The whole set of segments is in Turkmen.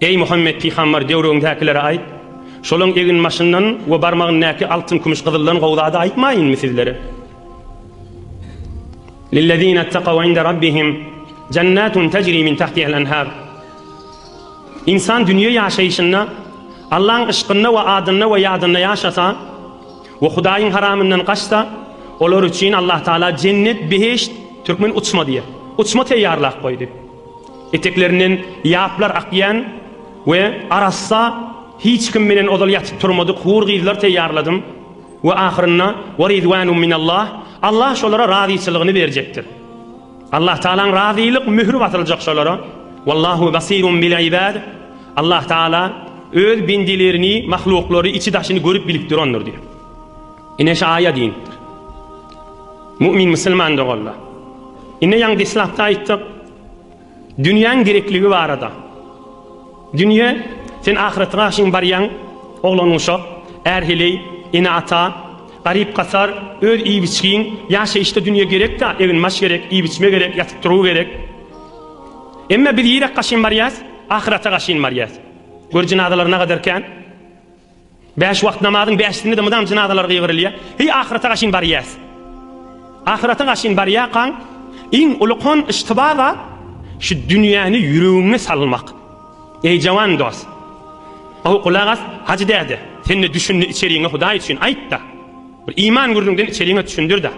Eý, Muhammet pygambar, döwrüňdäkilere aýt, Şolaň eginbaşyndan we barmagyndaky altyn-kümüş-gyzyldan gowy zady aýtmaýynmy sizlere? Lillezine takaw inde Rabbihim jennatun tejri min tahtihal enhar. Insan dünýe ýaşaýşynda Allaň yşkynda we adynda we ýadynda ýaşasa we Hudaýyň haramyndan gaçsa, olar üçin Allah Taala jennet, behişt, türkmen uçma diýýär, uçma teýýarlap goýdy. Eteklerinden ýaplar akýan we arassa hiç kim menen ozal ýatyp turmadyk hur gyzlar teýýarladym we ahyrynda we ridwanum minallah Allah şolara razyçylygyny berjekdir. Allah Tagalaň razylyk möhri basyljak şolara Wallahu basirun bil ibad Allah Tagala öz bendilerini, mahluklary içi daşyny görüp bilipdir ondur diýip. Ine şu aýa diýipdir. Mu'min musulman doganlar. Ine ýaňy deslapda aýtdyk. Dünýäň gerekligi barada. Dünýe sen ahyrete garşyň barýaň, oglan uşak, är heleý, ene ata, garyp gasar, öz iýip-içgiň, ýaşaýyşda dünýe gerekdä, egin-maş gerek, iýip-içme gerek, ýatyp-turgy gerek. Emma biz nirä gaşyn barýas? Ahyrete gaşyn barýas. Gör jynazalar nagader kän. Bäş wagt namazyň bäşisinde-de mydam jynazalar gygyrylýar. Heý ahyrata gaşyn barýas. Ahyrata gaşyn barýarkaň iň uly kon yştyba zat şu dünýäni ýüregiňe salmak. Eý jawan dost. Gowy gulak as, Hajy däde, sen-de düşündi içeriňe Hudaý üçin aýt-da. Bir iman gürrüňden içeriňe düşündir-da.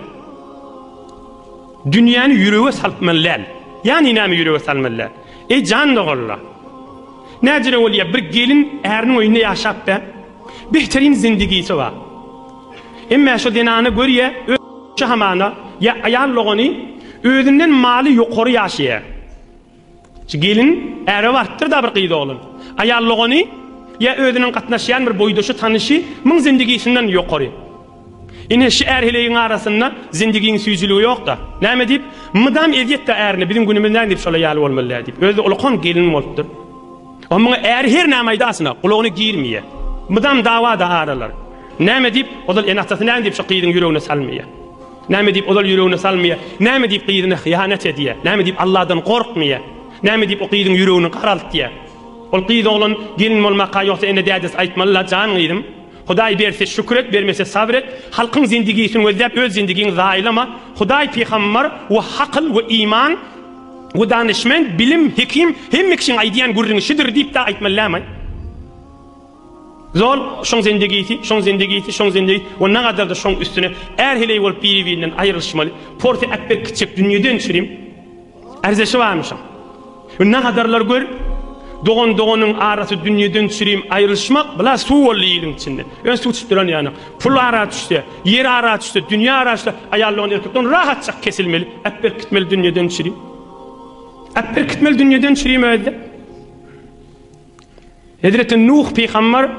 Dünýäni ýürege saltmaly däl. Ýani näme ýürege salmaly däl? Eý jan doganlar! Näcire bolýa bir gelin äriniň öýünde ýaşap be? Behterin zindigisi bar. Emmä şo zenana görýä öz hamana ýa aýal dogany özünden maly ýokary ýaşaýa. Gelin äre barypdyr-da bir gyz oglan. Aýal dogany ýa özüniň gatnaşýan bir boýdaşy, tanyşy muň zendigisinden ýokary. Ine, şi är heleýiň arasynda zendigiň süýjüligi ýok-da. Näme diýip, mydam ezýet-de ärine, biziň günümiz näme diýip şola ýaly bolmaly däl diýip. Özi-de ulakan gelin bolupdyr. A muňa äri her näme aýdasyn-a, gulagyna girmeýä. Mydam dawa-da aralar. Näme diýip, ozal ene-atasy näme diýip şo gyzyň ýüregine salmaýa. Näme diýip ozal ýüregine salmaýar? Näme diýip gyzyna hyýanat edýär? Näme diýip Alladan gorkmaýar? Näme diýip o gyzyň ýüregini garaltýar? Ol gyz oglan gelin bolmaka ýogsa ene dädesi aýtmaly la jan gyzym Hudaý berse şükür et bermese sabr et halkyň zindigisin gözläp öz zindigiňi zaýalama Hudaý pygambar we hakyl we iman we danişmend bilim hekim hemme kişiň aýdýan gürrüňi şidir diýip da aýtmaly lämaý. Zol, şoň zendigisi, şoň zendigisi, şoň zendigi we nagadar-da şoň üstüne är heleý bolup biri-birinden aýrylyşmaly. Porsi äpbek kiçjek dünýeden çirim arzeşi barmyşam. We nagadarlar gör, dogan-doganyň arasy dünýeden çirim aýrylyşmak bla suw boldy iliň içinde. Ýöne suw içip duran ýanok. Pul ara düşse, ýer ara düşse, dünýe ara düşse, aýal dogan erkekden rahatjak kesilmeli. Äpbek gitmeli dünýeden çirim. Äpbek gitmeli dünýeden çirim özi-de. Hezreti Nuh pygamber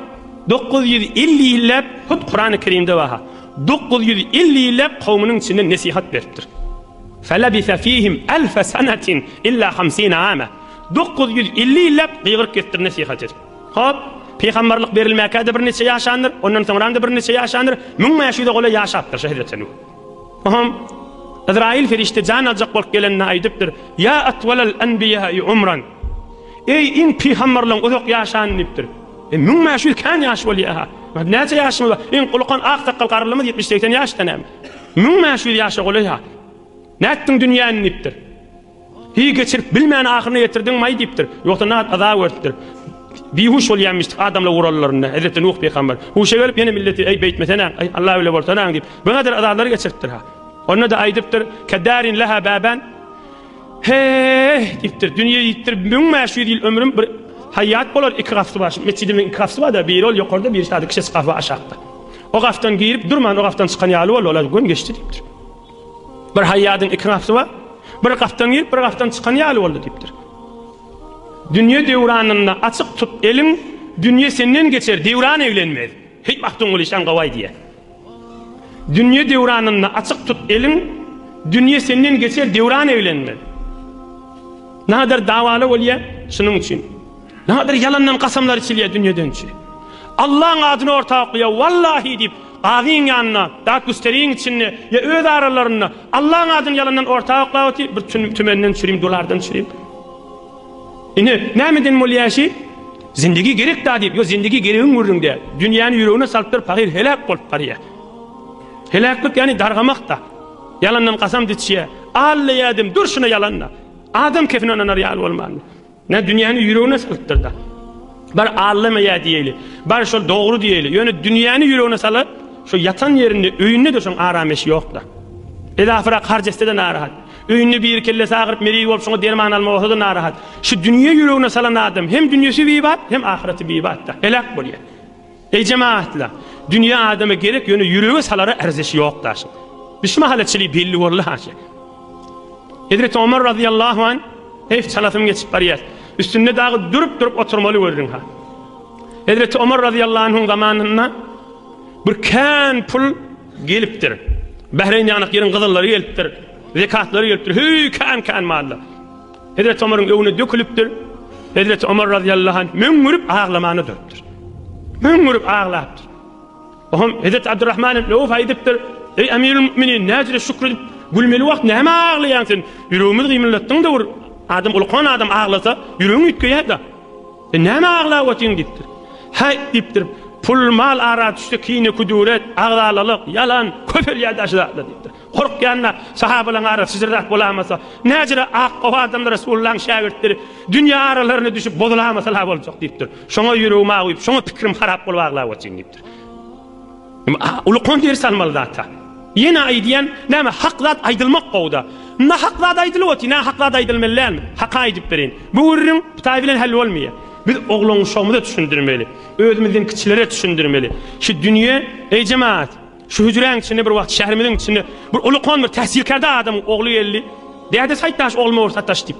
dokuz ýüz elli ýylläp, hut Kurany Kerimde barha, dokuz ýüz elli ýylläp kowmynyň içinde nesihat beripdir. Felebise fihim elfe senetin illa hamsine ame. Dokuz ýüz elli ýylläp gygyryp gitdir nesihat edip. Hop, pygamberlik berilmäkä-de birniçe ýaşandyr, ondan soňram-da birniçe ýaşandyr, müň bäş ýüze golaý ýaşapdyr şu hezreti Nuh. Oňam Yzraýyl perişde jan aljak bolup gelende aýdypdyr, Ýa atwalal enbiýäi umran. Eý, iň pygamberleň uzak ýaşan diýipdir. E, müň bäş ýüz kän ýaş bolýa-ha. Näçe ýaşymyz bar? Iň ulukan ak sakgal garrylymyz ýetmiş-segsen ýaşda näme? Müň bäş ýüz ýaşa golaý-ha. Nätdiň dünýäni diýipdir. Hiý, geçirip bilmän ahyryna ýetirdiňmaý diýipdir. Ýogsa nat azap görüpdir. Bihuş bolýamyşdyk adamlar urallarynda. Hezreti Nuh pygamber. Huşa gelip ýene milleti, Eý, beýtmesenaň, eý, Alla bile bolsanaň diýip, bu gadyr azalary geçiripdir-ha. Onda-da aýdypdyr, Keddarin leha baban. He-e-e-e! diýipdir. Dünýe diýipdir, müň bäş ýüz ýyl ömrüm bir haýýat bolar, iki gapysy bar. Metjidimiziň iki gapysy bar-da, biri ol ýokarda, birisi ady kişesi gahwa aşakda. O gapdan girip durman, o gapdan çykan ýaly boldy, ol-a gün geçdi diýipdir. Bir haýýadyň iki gapysy bar, bir gapdan girip, bir gapdan çykan ýaly boldy diýipdir. Dünýe döwranynda açyk tut eliň, dünýe senden geçer, döwran eglenmez. Heý, Magtymguly şaň gowaý diýýär. Dünýe döwranynda açyk tut eliň, Dünýe senden geçer döwran eglenmez. Nadir dawaly bolýar, şunuň üçin. Nadir ýalandan kasamlar içilýär dünýe dönçi. Allaň adyny orta oklaýar, wallahi diýip, gazyň ýanynda, dat güsteriň içinde ýa öz aralarynda Allaň adyny ýalandan orta oklap otyr, bir tümenden çürim, dolardan çürim. Ine, nämeden bol ýaşy? Zindigi gerek-da diýip, ýo zindigi geregiň gürrüňde. Dünýäni ýüregine salypdyr pahyr heläk bolup barýa. Heläklik ýani dargamak-da. Ýalandan kasam diçýä. Alla ýadym, dur şuna ýalan-da. Adam kefine ynanar ýaly bolman. Nä dünýäni ýüregine salypdyr-da. Bar Allama ýa diýeli. Bar şol dogry diýeli. Ýöne dünýäni ýüregine salyp, şu ýatan ýerinde, öýünde-de şoň aram eşi ýok-da. Edafyra harjestede narahat. Öýünde biri kellesi agyryp meriz bolup şoňa derman alma bolsa-da narahat. Şu dünýe ýüregine salan adam hem dünýesi bibat hem ahyreti bibatda. Heläk bolýar. Eý jemagatlar! Dünýe adama gerek ýöne ýürege salara arzeşi ýok daşyň. Biz şu mahala çili belli boldy haşa. Hezreti Omar razyýallahu an heyf çalasym geçip barýar. Üstünde dagy durup-durup oturmaly gördüň ha. Hezreti Omar razyýallahu anhuň zamanynda Bir kän pul gelipdir. Bähreýn ýanak ýeriň gyzyllary gelipdir. Zekatlary gelipdir. Heý kän-kän malla. Hezreti Omaryň öňüne dökülipdir. Hezreti Omar radiyallahu anh möňňürip aglamana durupdyr. Möňňürip aglapdyr. Oňam Hezreti Abdurrahman ibn Awf aýdypdyr. Eý Emirul Müminin, näjire şükür edip gülmeli wagt näme aglaýaň sen? Ýüregimiz gymyllatdyň-da bir adam ulkan adam aglasa, ýüregiň üýtgeýär-de. E, näme aglap otyň diýipdir. Häý, diýipdir, pul-mal ara düşse kine-küdüret, agzalalyk, ýalan, köpelýär daşy zatlar diýipdir. Gorkýan-da, sahabalaryň arasy syjyrdak bolamasa, näjire ak gowy adamlar Resulullahyň şägirtleri dünýe aralaryna düşüp bozulamasa-la boljak diýipdir. Şoňa ýüregim awyp, şoňa pikirim harap bolup aglap otyň diýipdir. Ulukman ders almaly zata. Ýene aýdýan, näme hak zat aýdylmak gowuda. Nahak zat aýdylyp otyr, nahak zat aýdylmaly dälmi? Haka aýdyp berin. Bu gürrüň Hytaý bilen hal bolmaýar. Biz oglanuşagymyza düşündirmeli. Özümizden kiçilere düşündirmeli. Şu dünýe, eý jemagat, şu hüjräň içinde bir wagt şäherimiziň içinde bir ulukman bir tähsilkärde adamyň ogly geldi. Däde saýtdaş ogluma bir sataş diýip.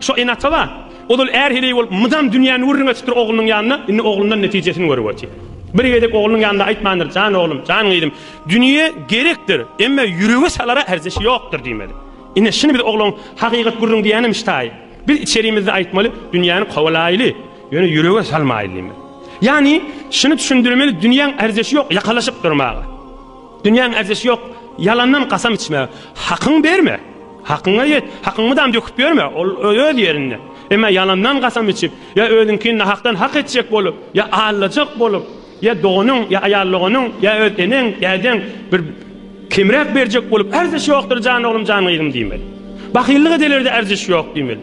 Şo ene-ata bar. Ozal är heleý bolup mydam dünýäni gürrüň edipdir oglunyň ýanynda, indi oglundan netijesini görüp otyr. Bir gezek oglunyň ýanynda aýtmandyr, Jan oglum, jan gyzym, dünýe gerekdir, emma ýürege salara erzeşi ýokdur diýmeli. Ine, şuny biz oglaň hakykat gürrüň diýenem ştaýy. Biz içerimizde aýtmaly, dünýäni kowalaýly, ýöne ýürege salmaýly diýmeli. Ýagny, şuny düşündirmeli, dünýäň erzeşi ýok ýakalaşyp durmaga. Dünýäň erzişi ýok, ýalandan kasam içme. Hakyňy berme, hakyňa ýet, hakyňy mydam döküp ýörme, ol öz ýerinde. Emma ýalandan kasam içip, ýa özüňkini nahakdan hak etjek bolup, ýa aldajak bolup, ýa doganyň, ýa aýal doganyň, ýa öz eneň, dädeň bir kemräk berjek bolup, Erziş ýokdur jan oglum, jan gyzym diýmeli. Bahyllyk edelerde erziş ýok diýmeli.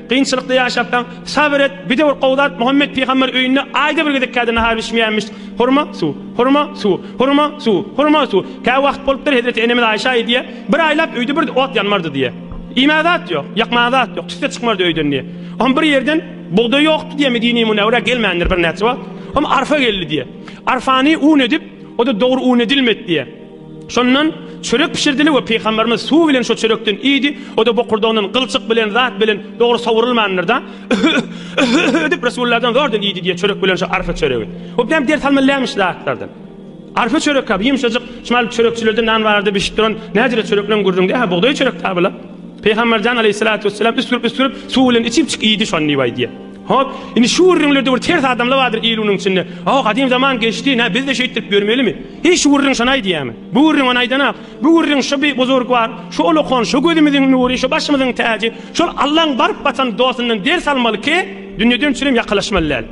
Kynçylykda ýaşapsaň, sabyr et, bide bir gowy zat, Muhammet pygamber öýünde aýda bir gezek kädi nahar bişmeýänmiş. Hurma, suw. Hurma, suw. Hurma, suw. Hurma, suw. Kä wagt bolupdyr, hezreti enemiz Aýşa aýdýa, Bir aýlap öýde bir ot ýanmardy diýe. Iýmäge zat ýok, ýakmaga zat ýok, tüsse çykmardy öýden diýe. Hom bir ýerden bugdaý ýokdy diýe Medine-i Munewwerä gelmändir birnäçe wagt. Hom arfa geldi diýe. Arfany un edip, o-da dogry un edilmedi diýe. Şondan çörek bişirdiler we pygamberimiz suw bilen şo çörekden iýdi, o-da bokurdagyndan gylçyk bilen zat bilen dogry sowrulmandyr-da, edip Resullardan zordan iýdi diýe çörek bilen şo arfa çöregi. O bilen ders almalylaýmyş zatlardan. Arfa çörek kab, ýumşajyk, şmal çörekçilerde nan barada bişip duran, näzire çörekleň gürrüňde, ha bugdaý çörek tabula. Pygamberjan aleyhissalatu vesselam üstürip üstürip suw bilen içip çyk iýdi şon diýip aýdýa. Hop, indi şu gürrüňlerde bir ters adamla bardyr il unuň içinde. O gadym zaman geçdi, nä biz de şeýtdirip ýörmelimi? Heý şu gürrüň şony aýdýamy? Bu gürrüň ony aýdanok. Bu gürrüň şu bi buzurgwar, şu ulukan, şu gözümiziň nury, şu başymyzyň täji, şol Allaň baryp batan dostundan ders almaly ki, dünýeden çürim ýakalaşmaly däl.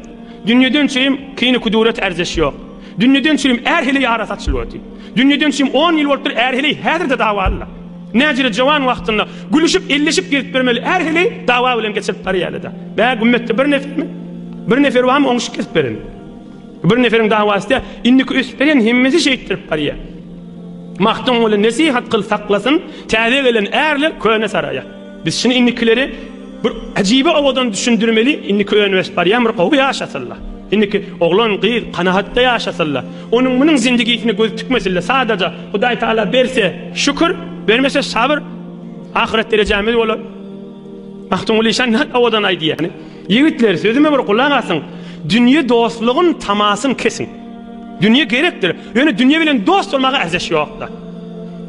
Dünýeden çürim kyny-kudurat ärjeş ýok. Dünýeden çürim är heleý arasy açylywady. Dünýeden çürim on ýyl bolupdyr är heleý häzir-de dawalylar. Näjire jowan wagtynda gülüşip, elleşip gezip ýörmeli är heleý dawa bilen geçirip barýaly-da. Bä gümmetde bir nefermi? Bir nefer barmy oňuşyp gezip beren? Bir neferiň dawasy-da indiki ösüp gelen hemmesi şeýtdirip barýar. Magtymguly nesihat kyl saklasyn, täze gelen ärler köne saraýa. Biz şuny indikileri bir ajibe owadan düşündirmeli, indiki öňe ösüp barýan bir gowy ýaşasynla. Indiki oglan, gyz kanagatda ýaşasynla. Onuň munuň zindigisine göz tikmesinle, sadaja Hudaý Taala berse şükür, bermese sabr, ahyret derejämiz bolar. Magtymguly şa nahak owadan aýdýar. Ýigitler, sözüme bir gulak asyň. Dünýe dostlugyň tamasyny kesiň. Dünýe gerekdir, ýöne dünýe bilen dost bolmaga arzaş ýokda.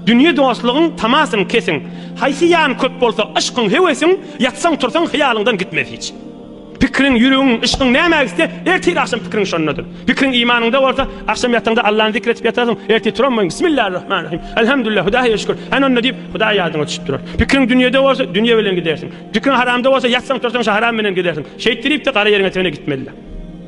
Dünýe dostlugyň tamasyny kesiň. Haýsy ýan köp bolsa, yşkyň, höwesiň, ýatsaň-tursaň hyýalyňdan gitmez hiç. Pikiriň, ýüregiň, yşkyň nämä gitse, ertir agşam pikiriň şondadyr. Pikiriň imanyňda bolsa, agşam ýataňda Allany zikr edip ýatarsyň, ertir turanboýun, Bismillarrahmanrahym, Elhamdülillah, Hudaýa şükür, hany onda diýip, Hudaý ýadyňa düşüp durar. Pikiriň dünýede bolsa, dünýe bilen gidersiň. Pikriň haramda bolsa, ýatsaň-tursaň şa haram menen gezersiň. Şeýtdirip-de gara ýeriňe-tegine gitmeli-le.